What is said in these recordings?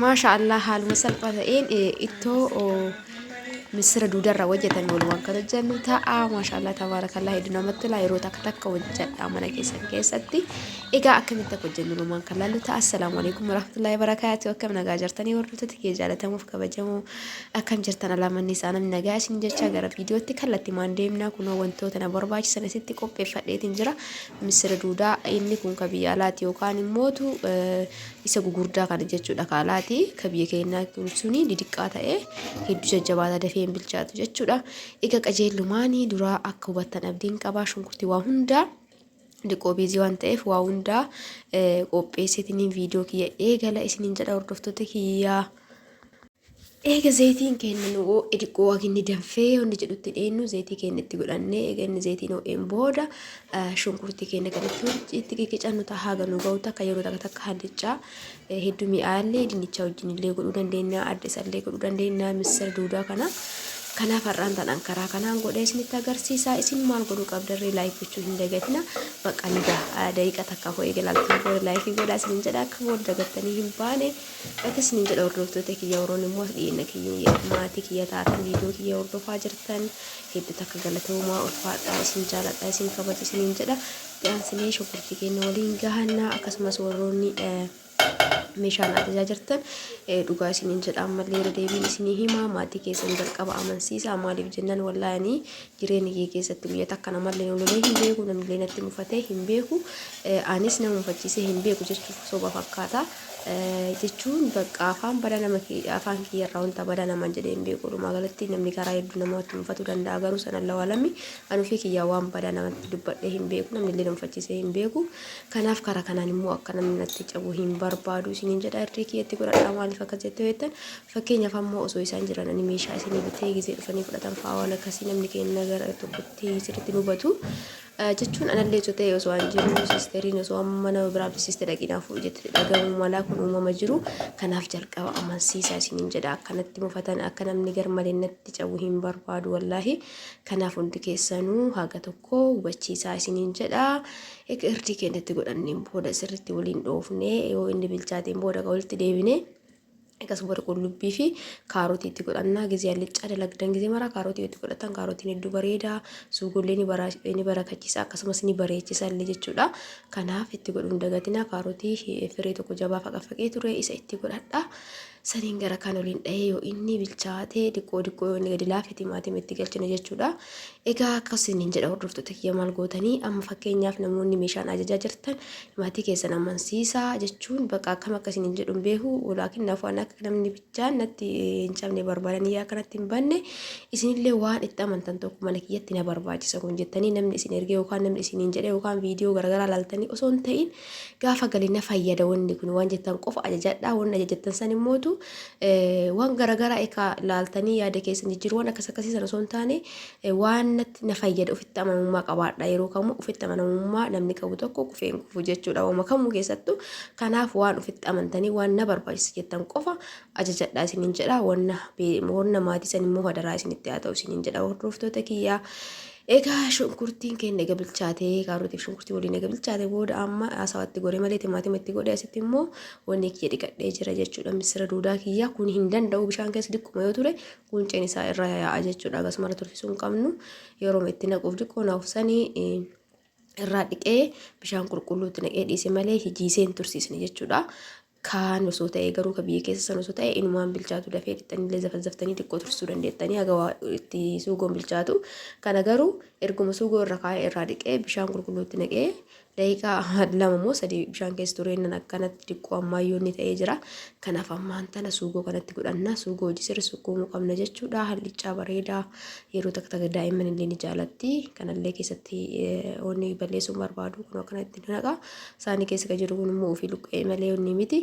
Maasha Allah haaluma salphaa ta'een ittoo misira duudarra hojjetame walumaan kan hojjennu ta'a. Maasha Allah tabaarakallah hedduu namatti tola yeroo takka takka hojjedha mana keessan keessatti. Egaa akkamitti akka hojjennu walumaan kan laallu ta'a. Assalaamu alaikum warahmatullahi wabarakaatu. Akkam nagaa jirtanii hordoftoota kiyya jaalatamuuf kabajamoo akkam jirtan alaamanni isaa namni nagaa isin jecha gara viidiyootti kallattii maan deemnaa kunoo wantoota na barbaachisan asitti qopheeffadheetiin jira. Misira duudaa inni kun ka biyya alaati yookaan immootu isa gugurdaa kana jechuudha ka alaati ka biyya keenyaa kun suni didiqqaa ta'ee hedduu jajjabaata dafee hin bilchaatu jechuudha. Egaa qajeellumaanii duraa akka hubattan abdiin qabaa shunkurtii waa hundaa diqoo biizii waan ta'eef waa hundaa qopheesseetiniin viidiyoo kiyya eegala isiniin jedha hordoftoota kiyyaa. Eega zaytiin keenya nu oo'e diqqoo waginni danfee wanni jedhutti dheennu zaytii keenya itti godhannee eega inni zaytiin oo'een booda shunkurtii keenya kan itti itti qiqicannu ta'a haga nu ga'u takka yeroo takka takka handichaa hedduu mi'aallee dinnichaa wajjin illee godhuu dandeenya adda isallee godhuu dandeenya missira duudaa kana kanaaf har'aan tanaan karaa kanaan godhee isinitti agarsiisaa isin maal godhuu qabdarree laayik gochuu hin dagatina bakka ni ga'a daqiiqa takka hoo eega laaltanii booda laayikii godhaa isin jedha akka booda dagattanii hin baane. Akkana isiniin jedha hordoftoota kiyya warroonni immoo as dhiyeenna kiyya maatii kiyya taatan viidiyoo kiyya hordofaa jirtan hedduu takka galatoomaa ulfaadhaa isin jaaladha isin kabaja isiniin jedha dhiyaansinee shunkurtii keenya waliin gahannaa akkasumas warroonni meeshaan ajajaa jirtan dhugaa isiniin jedha ammallee irra deebiin isinii himaa maatii keessan jalqaba amansiisa maaliif jennaan wallaayanii jireenya kee keessatti guyyaa takka namallee ololee hin beeku namillee natti mufatee hin beeku anis nama mufachiisee hin beeku jechuuf soba fakkaata jechuun bakka afaan bada nama afaan kiyyarraa wanta bada nama jedhee hin beeku dhumaa galatti namni karaa hedduu namatti mufatuu danda'a garuu sana lawalami anufii kiyyaa waan bada namatti dubbadhee hin beeku namnillee nama mufachiisee hin beeku kanaaf karaa kanaan immoo akka namni natti cabu hin barbaadu isiniin jedha irree kiyyatti godhadhaa maaliif akka jettu jettan Fakkeenyaaf ammoo osoo isaan jiran ani meeshaa isinii bitee gizee dhufanii fudhatan fa'aa waan akkasii namni keenya gara tokkotti sirriitti nu hubatu. Eh, Jechuun anallee osoo ta'e osoo an jiru siisteriin osoo amma nama biraa bisiiste dhaqinaa fuudhu jettee dhagahamu malaa kun uumama jiru. Kanaaf jalqaba amansiisaa isiniin jedha akkanatti mufatan akka namni garmalee natti cabu hin barbaadu wallaahi. Kanaaf hundi keessanuu haga tokko hubachiisaa isiniin jedha. Egaa irdii keenyatti godhanneen booda sirriitti waliin dhoofnee yoo inni bilchaateen booda ka walitti deebinee Akkasuma warri qullubbii fi kaarotii itti godhannaa gizee allichaa dalagdan gizee maraa kaarotii itti godhatan kaarotiin hedduu bareeda suugollee ni bara ni barakachiisa akkasumas ni bareechisa illee jechuudha. Kanaaf itti godhuun dagatinaa kaarotii firee tokko jabaa faqafaqee ture isa itti godhadha. Saniin gara kan waliin dhahee yoo inni bilchaatee diqqoo diqqoo yoo inni gadi laafe timaatima itti galchina jechuudha. Egaa akka isiniin jedha hordoftoota kiyya maal gootanii amma fakkeenyaaf namoonni meeshaan ajajaa jirtan maatii keessan amansiisaa jechuun bakka akkam akka isiniin jedhu hin beeku walaakin naafuu ani akka namni bichaan natti hin cabne barbaadanii yaa kanatti hin banne isinillee waan itti amantan tokko mana kiyyatti na barbaachisa kun jettanii namni isin ergee yookaan namni isiniin jedhee yookaan viidiyoo garaagaraa laaltanii osoo hin ta'in Gaafa gali na fayyada wanni kun waan jettan qofa ajajadhaa wanni ajajattan san immootu waan garaagaraa ekaa laaltanii yaada keessan jijjiiru waan akkas akkasii sana osoo hin taane waan natti na fayyada ofitti amanamummaa qabaadha yeroo kamuu ofitti amanamummaa namni qabu tokko kufee hin kufu jechuudha waama kamuu keessattuu kanaaf waan ofitti amantanii waan na barbaachisa jettan qofa ajajadhaa isiniin jedha wanna wanna maatii san immoo hadaraa isinitti haa ta'u isiniin jedha hordoftoota kiyyaa Egaa shunkurtiin keenya ega bilchaatee kaarotiif shunkurtii waliin ega bilchaate booda amma haasawatti godhe malee timaatima itti godhe asitti immoo wanni kiyya dhiqadhee jira jechuudha misira duudaa kiyya kun hin danda'u bishaan keessa diqquma yoo ture qunceen isaa irra yaa'a jechuudha akkasumara turfisuu hin qabnu yeroo itti naquuf diqqoo naaf sanii irraa dhiqee bishaan qulqulluutti naqee dhiise malee hijiisee hin tursiisne jechuudha. kaan osoo ta'ee garuu ka biyya keessa san osoo ta'e inumaan bilchaatu dafee dhixxanillee zafazzaftanii xiqqoo tursuu dandeettanii haga waa itti suugoon bilchaatu kana garuu erguma suugoo irra kaa'ee irraa dhiqee bishaan qulqulluutti naqee daqiiqaa lama moo sadii bishaan keessa tureennan akkanatti xiqqoo ammaayyoon ni ta'ee jira kanaaf ammaan tana suugoo kanatti godhanna suugoo hojii sirri sukkuumuu qabna jechuudha hallichaa bareedaa yeroo takka takka daa'imman illee ni jaalatti kanallee keessatti eh, onni balleessuun barbaadu kun akkanatti ni naqa Saani keessa ka jiru kun immoo ofii luqqa'ee malee onni miti.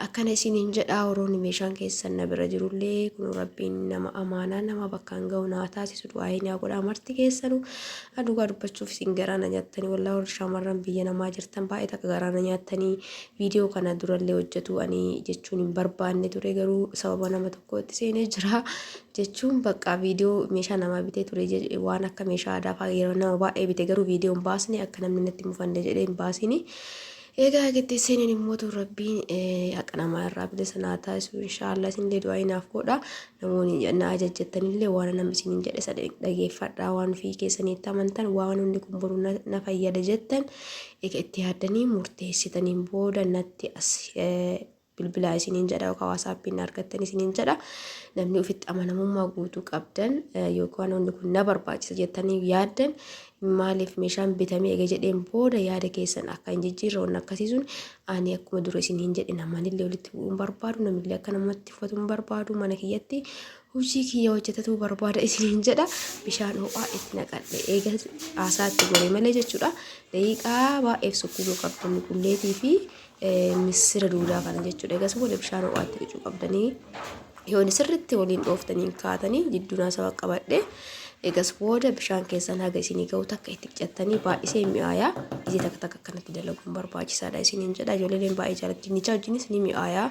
Akkana isiniin jedhaa warroonni meeshaan keessan na bira jirullee kun rabbiin nama amaanaa nama bakkaan ga'u naa taasisu du'aa'ee naa godhaa marti keessanu. Dhugaa dubbachuuf isin garaa na nyaattanii wallaa warri shaamarran biyya namaa jirtan baay'ee takka garaa na nyaattanii viidiyoo kana durallee hojjetu ani jechuun hin barbaanne ture garuu sababa nama tokkootti seenee jira. jechuun baqqaa viidiyoo meeshaa namaa bitee ture jedhe waan akka meeshaa aadaa fa'aa yeroo nama baay'ee bite garuu viidiyoo hin baasne akka namni natti mufanne jedhee hin baasini. Egaa gitti seeniin immoo tu rabbiin haqa namaa irraa bilisa naa taasisu inshaallah isinillee du'aa inaaf godha namoonni na ajajjettanillee waan nama isiniin jedhe isa dhageeffadhaa waan fi keessaniitti amantan waan hundi kun boru na fayyada jettan egaa itti yaaddanii murteessitaniin booda natti as bilbilaa isiniin jedha yookaan waasaappiin na argattan isiniin jedha. Namni ofitti amanamummaa guutuu qabdan eh, yookaan wanni kun na barbaachisa jettanii yaaddan maaliif meeshaan bitamee eega jedheen booda yaada keessan akka hin jijjiirre wanni akkasii sun ani akkuma dura isin hin jedhe namanillee walitti bu'uu hin barbaadu namillee akka namatti uffatu hin barbaadu mana kiyyatti hojii kiyya hojjetatu barbaada isin hin jedha bishaan ho'aa itti naqadhe eega haasaa itti godhe malee jechuudha daqiiqaa baay'eef sukkuumuu qabdan qulleetii fi missira duudaa kana jechuudha. Egaa booda bishaan ho'aatti qicuu qabdanii yoon sirriitti waliin dhooftanii hin kaatanii jidduu naasawaa qabadhe egas booda bishaan keessan haga isinii ga'u takka itti qicattanii baay'isee mi'aayaa iji takka takka akkanatti dalaguun barbaachisaadha isiniin jedha ijoolleen baay'ee jaalatti dinnichaa wajjinis ni mi'aayaa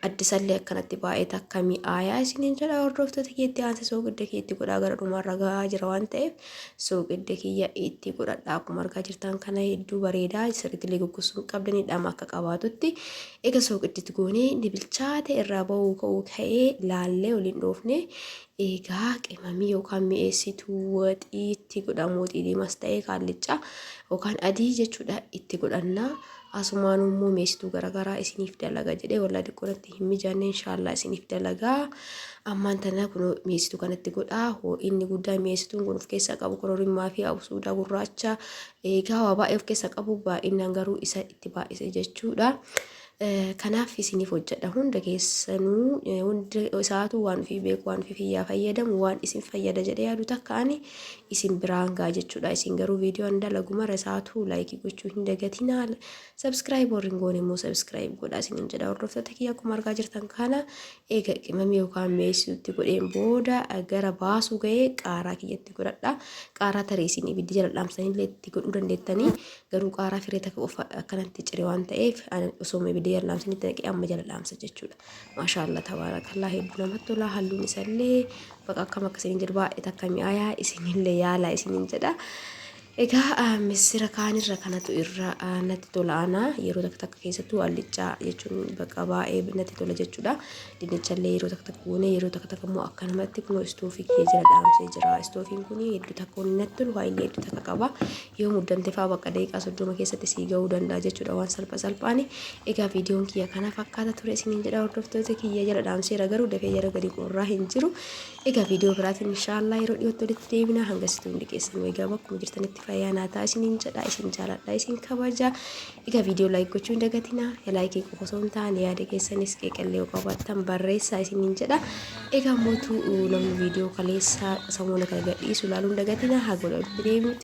addisallee akkanatti baay'ee takka mi'aayaa isiniin jedha hordoftoota keetti aansisoo gudda keetti godhaa gara dhumaarra ga'aa jira waan ta'eef So qidde kiyya itti godhadha akkuma argaa jirtan kana hedduu bareedaa sirriitillee goggogsuu hin qabdan hidhama akka qabaatutti ega so qidditti goonee ni bilchaate irraa ba'uu ka'uu ka'ee laallee waliin dhoofne egaa qimamii yookaan mi'eessituu waxii itti godhamu waxii diimas ta'ee kaallichaa yookaan adii jechuudha itti godhannaa asumaan immoo mi'eessituu garaagaraa isiniif dalaga jedhee wallaa diqqoonatti hin mijanne inshaallah isiniif dalagaa ammaan tana kunoo mi'eessituu kanatti godhaa hoo'inni guddaa mi'eessituun kun of keessaa qabu kororimmaa fi absuudaa gurraacha eegaa waa baay'ee of keessaa qabu baay'inaan garuu isa itti baay'ise jechuudha. Kanaaf isiniif hojjedha hunda keessanuu hunda isaatu waan ofii beeku waan ofii fiyyaa fayyadamu waan isin fayyada jedhee yaadu takka ani isin biraan gaa jechuudha isin garuu viidiyoo an dalagumara isaatu laayikii gochuu hin dagatinaa Subscribe warri hin goone immoo subscribe godhaa isiniin jedha hordoftoota kiyya akkuma argaa jirtan kana eega qimamii yookaan mi'eessituutti godheen booda gara baasuu ga'ee qaaraa kiyyatti godhadha qaaraa tarii isin ibiddi jala dhaamsanii illee itti godhuu dandeettanii garuu qaaraa firee takka qofa akkanatti cire waan ta'eef osoo ibiddi jala dhaamsanii itti naqee amma jala dhaamsa jechuudha maashaallah tabaarakallaa hedduu namatti tola halluun isallee baqa akkam akkasiin jedhu baay'ee takka mi'aayaa isinillee yaalaa isiniin jedha. Egaa missira kaanirra kanatu irra natti tola ana yeroo takka takka keessattuu alliccaa jechuun bakka baay'ee natti tola jechuudha. Dinnichallee yeroo takka takka goonee yeroo takka takka immoo akkanumatti kunoo istoofii kiyya jala dhaamsee jira. Istoofiin kun hedduu takka inni natti tolu baay'ee hedduu takka qaba. Yoo muddamte fa'aa bakka daqiiqaa soddoma keessatti sii ga'uu danda'a jechuudha waan salpha salphaani. Egaa viidiyoon kiyya kana fakkaata ture isiniin jedha hordoftoota kiyya jala dhaamseera garuu dafee jala gadi qorraa hin jiru. Egaa viidiyoo biraatiin inshaallah yeroo dhiyootti walitti deebina hanga situu hundi keessan nu egaa bakkuma jirtanitti fayyaa naa ta'a isiniin jedha isin jaaladha isin kabaja egaa viidiyoo laayik gochuu hin dagatina ya laayikii qofa osoo hin taane yaada keessanis qeeqallee yoo qabaattan barreessaa isiniin jedha egaa mootuu namni viidiyoo kaleessaa samuuna kana gadhiisu ilaaluu hin dagatina haga walitti deebinutti